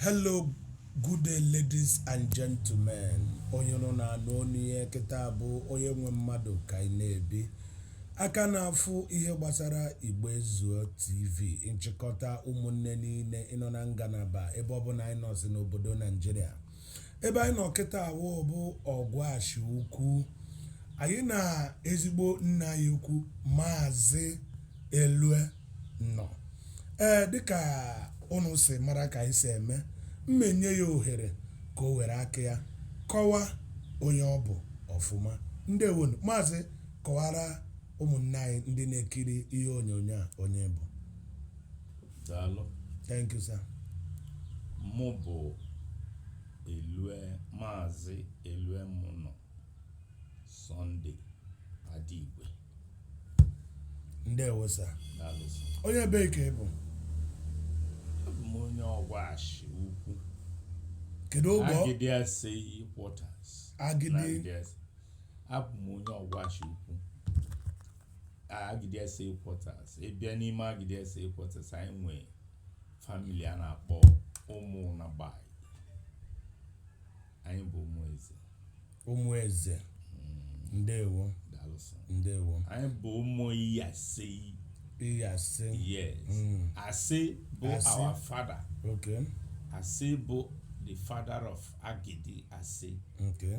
Hello, good day ladies and gentlemen. Onye ụnụ na-anụ onu ye kịta bụ onye nwe mmadụ ka ị na-ebi. Aka na-afụ ihe gbasara Igbo Ezuo TV, nchịkọta ụmụnne niile ịnọ na ngalaba ebe ọbụla anyị nọsị n'obodo Naijiria. ebe anyị nọ kịta awụ bụ Ọgwashị Ukwu anyị na ezigbo nna anyị ukwu maazị Eluemunọ ee dịka ụnụ si mara ka anyị si eme mmenye ya ohere ka o were aka ya kọwaa onye ọ bụ ọfụma ndewonu maazị kọwara ụmụnne anyị ndị na-ekiri ihe onyonyo a onye ị bụ daalụ thank you sir mụ bụ elue maazị Eluemunọ Sunday Adigwe ndewo sir daalụ so onye ebee ka ị bụ abụ m onye Ọgwashị Ukwu kedu ogbe ọ- Agidi Asei quarters Agidi. abụ m onye Ọgwashị Ukwu Agidi Asei Quarters ị bịa n'ime Agidi Asei Quarters anyị nwee family a na-akpọ ụmụ Ụnagbai anyị bụ ụmụ eze ụmụ eze ndewo daalụ sir ndewo anyị bụ ụmụ iyase iyase yes Mm. ase bụ Ase. our father okay ase bụ the father of Agidi ase okay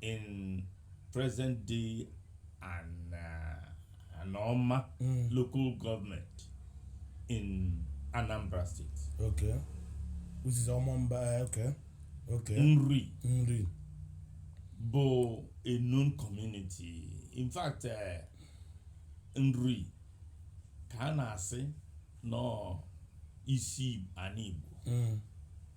in present day and uh, Anoma Mm. local government in Anambra State. Okay. Which is Omambala. eh, Okay. Okay. Nri Nri. bụ a known community. In fact, uh, Nri ka a na-asị nọ isi anị Igbo. Mm.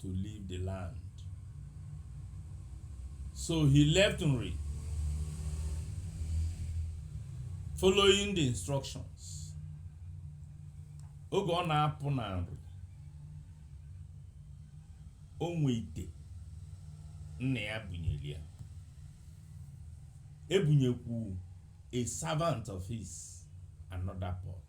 to leave the land. So he left Nri following the instructions. Oge ọ na-apụ na Nri, o nwe ite nna ya bunyere ya. Ebunyekwu a servant of his another pot.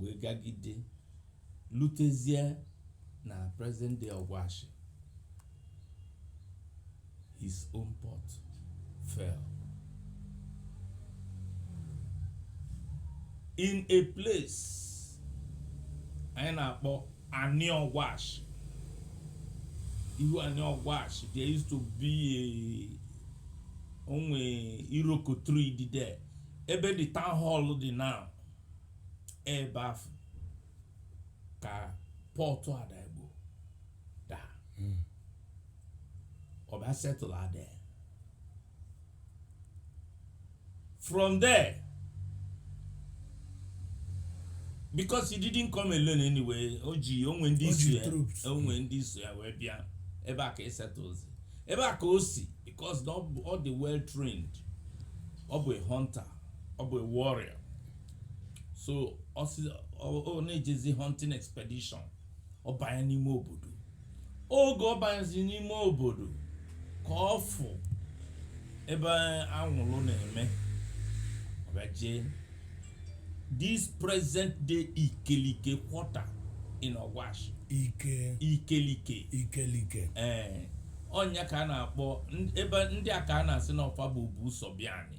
wee gagide lutezie na present day ọgwashi his own pot fell in a place anyị na-akpọ anị ọgwashi ihu anị ọgwashi there used to be a o nwe iroko tree dị there ebe the town hall dị now ebe afụ ka pot Adaigbo daa ọ bịa settle out there. from there because he didn't come alone anyway o ji o nwe ndị O iso ji ya troops. o nwe ndị so ya wee bịa ebe a ka e settlezi ebe a ka o si because na ọ bụ- ọ dị well trained ọ bụ a hunter ọ bụ a warrior so ọ na-ejezi hunting expedition ọ banye n'ime obodo oge ọ banyezi n'ime obodo ka ọ fụ ebe anwụlụ na-eme ọ bịa jee this present day ikelike quarter in Ogwashi ike ikelike ikelike ee ọ nya ka a na-akpọ ebe ndị a ka a na-asị na ọ fa bụ o bu ụzọ bịa anyị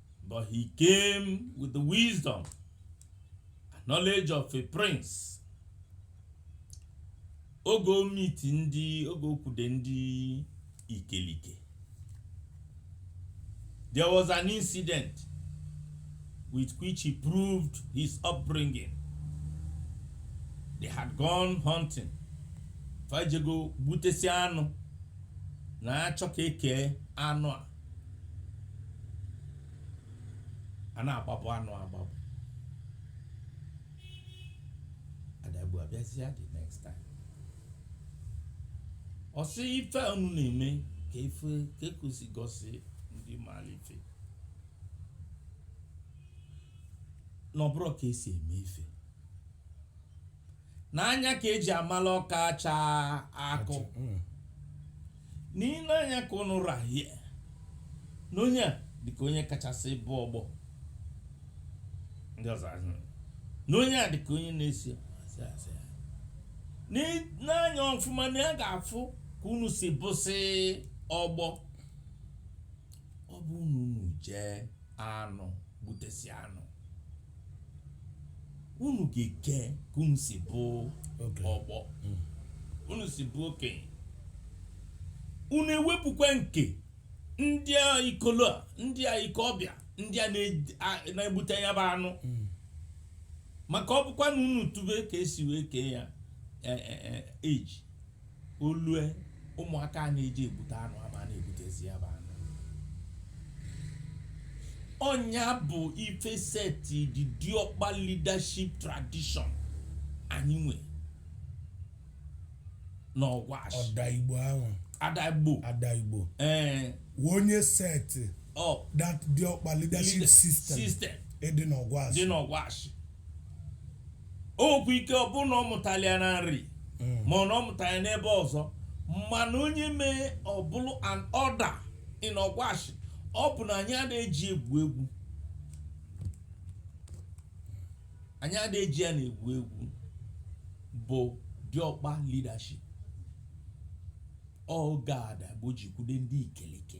But he came with the wisdom and knowledge of a prince. Oge o meet-i ndị oge o kwude ndị ikelike. There was an incident with which he proved his upbringing. They had gone hunting. Fa jego gbutesị anụ na-achọ ka e kee anụ a. a na-agbabụ anụ agbabụ Adaigbo abịazịa the next time ọ sị ife unu na-eme ka ife ka ekusi gosi ndị maalụ ife na ọ bụrọ ka e si eme ife na anya ka e ji amala ọka acha akụ Mm. n'ile anya ka unu rahie na onye a dịka onye kachasị bụ ọgbọ ndị ọzọ asị, na onye a dịka onye na-esi asị asị. N'ị- n'anya ọfụma na ya ga-afụ ka unu si bụsị ọgbọ ọ bụ unu unu jee anụ gbutesị anụ unu ga-eke ka unu si bụ ọgbọ unu si bụ okenye unu ewepụkwa nke ndị a ikolo a ndị a ikolobịa ndị a na-eji- a- na-egbute ya bụ anụ maka ọ bụkwa na unu tube ka e si wee kee ya eh, eh, eh, age o lue ụmụaka a na-eji egbute anụ ama a na-egbutezi ya bụ anụ ọ nya bụ ife seti the diokpa leadership tradition anyị nwe n'Ọgwashi Adaigbo ahụ Adaigbo Adaigbo ee wụ onye set up that diokpa leadership leader- system system dị n'Ọgwa dị n'Ọgwashi okwu ike ọ bụrụ na ọ mụtalị ya na nri ma ọ na ọ mụtalị ya n'ebe ọzọ mana onye mee ọ bụlụ an order in ọgwashi ọ bụ na anyị ada eji egwu egwu anyị ada eji ya na egwu egwu bụ diọkpa leadership oge adaigbo jikwude ndị ikelike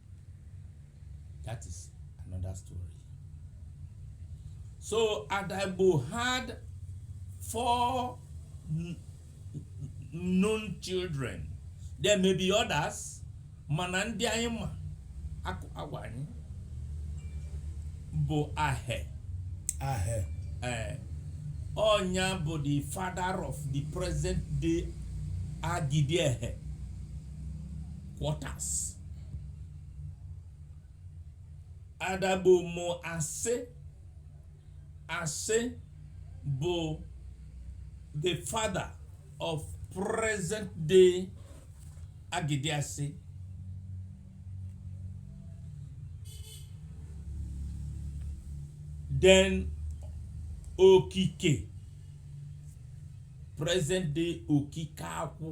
That is another story. So Adaigbo had four known children. There may be others, mana ndị anyị ma agwa anyị bụ Ahe. Ahe. Eh, ọ nya bụ the father of the present day Agidiehe quarters. adaigbo mụ ase ase bụ the father of present day agidiase then okike present day okike akwụ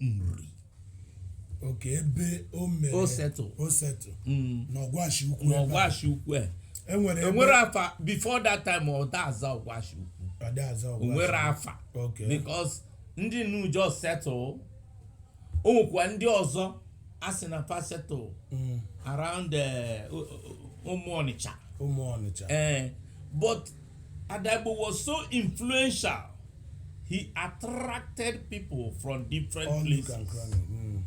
nri okay ebe o mere O settle. o settle Mm. na ọgwashi ukwu na ebe a. ọgwashi ukwu a e nwere ebe e nwere afa before that time ọ da aza ọgwashi ukwu ada aza ọgwashi o nwere afa Okay. because ndị nụ just settle o nwekwa ndị ọzọ a sị na fa settle Mm, around eh, o- o- ụmụ ọnịcha ụmụ ọnịcha Eh, but adaigbo was so influential he attracted people from different All places. and cranny. Mm.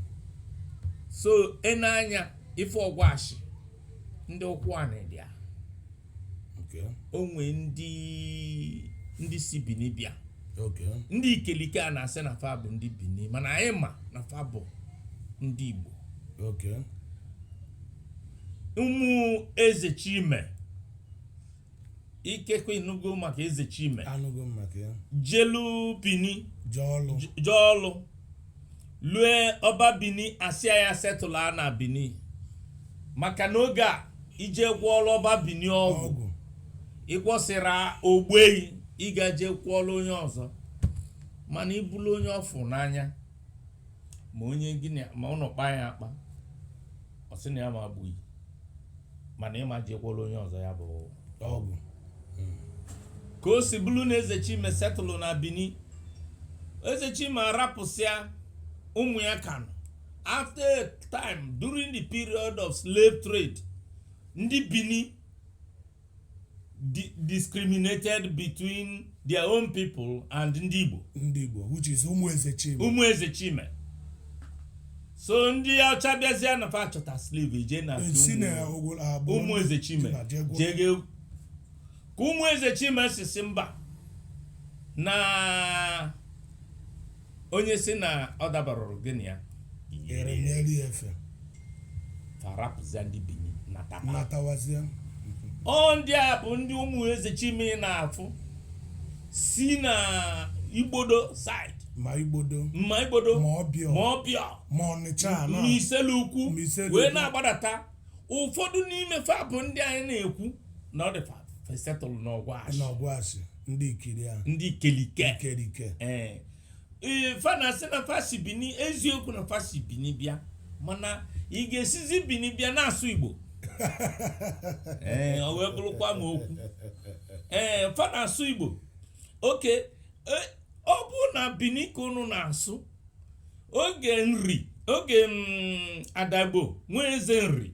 so ị nee anya ife ọgwashi ndị ụkwụ a na-edi a Okay. o nwe ndị ndị si bini bịa Okay. ndị ikelike a na-asị na fa bụ ndị bini mana anyị ma na fa bụ ndị igbo Okay. ụmụ eze chime ikekwe ị nụgo maka eze chime anụgo m maka ya jelu bini je ọlụ je ọlụ lue ọba bini asịa ya settle na bini maka na oge a i je gwọọlụ ọba bini ọgwụ ọgwụ ị gwọsịra o gbue yi ị ga-eje gwọọlụ onye ọzọ mana ị bụlụ onye ọ fụ n'anya ma onye gịnị ma unu kpa ya akpa ọ sị na ya ma egbu yi mana ị ma je gwọọlụ onye ọzọ ya bụ ọgwụ ka o si bụlụ na eze chime setụlụ na bini eze chime arapụsịa ụmụ ya kanụ after a time during the period of slave trade ndị bini discriminated between their own people and ndị Igbo ndị Igbo which is ụmụ Eze Chime ụmụ Eze Chime so ndị ọcha bịazịa na fa chọta slave je na ụmụ Eze Chime jege ka ụmụ Eze Chime sị sị mba na onye sị na ọ dabarụrụ gịnị ya ere m eri efe fa rapụzịa ndị bini natawa natawazịa ọ ndị a bụ ndị ụmụ eze chime ị na-afụsị na igbodo side ma igbodo ma igbodo Ma Ọbịọ. ma ọbịọ ma ọnịcha na ma iselu ukwu Ma Iselu wee Ukwu. na-agbadata ụfọdụ n'ime fa bụ ndị anyị na-ekwu na ọ dị fa settle n'Ọgwashi n'Ọgwashi ndị ikiri a ndị ikelike ikerike ee ee, fa na-asị na fa si bini eziokwu na fa si bini bịa mana ị ga-esizi bini bịa na-asụ igbo ee o wee bụrụkwanụ okwu ee fa na-asụ igbo okay e, ọ bụ na bini ka unu na-asụ oge nri oge mm, Adaigbo nwa eze nri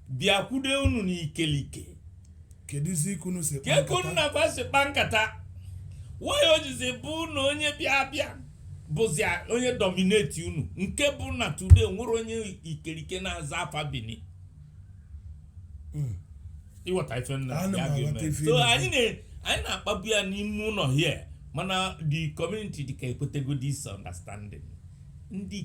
bịakwude unu n'ikelike kedụzi ka unu si kpaa kee ka unu nkata? na fa si kpa nkata why o jizi bụ na onye bịa abịa bụzi onye dominate unu nke bụ na today nwere onye ikelike na-aza afa bini ị ghọta ife nna Ana m ya aghọta ga-eme ife so ị anyị na- anyị na-akpabu ya n'ime ụlọ here mana the community dịka ekwetego this understanding ndị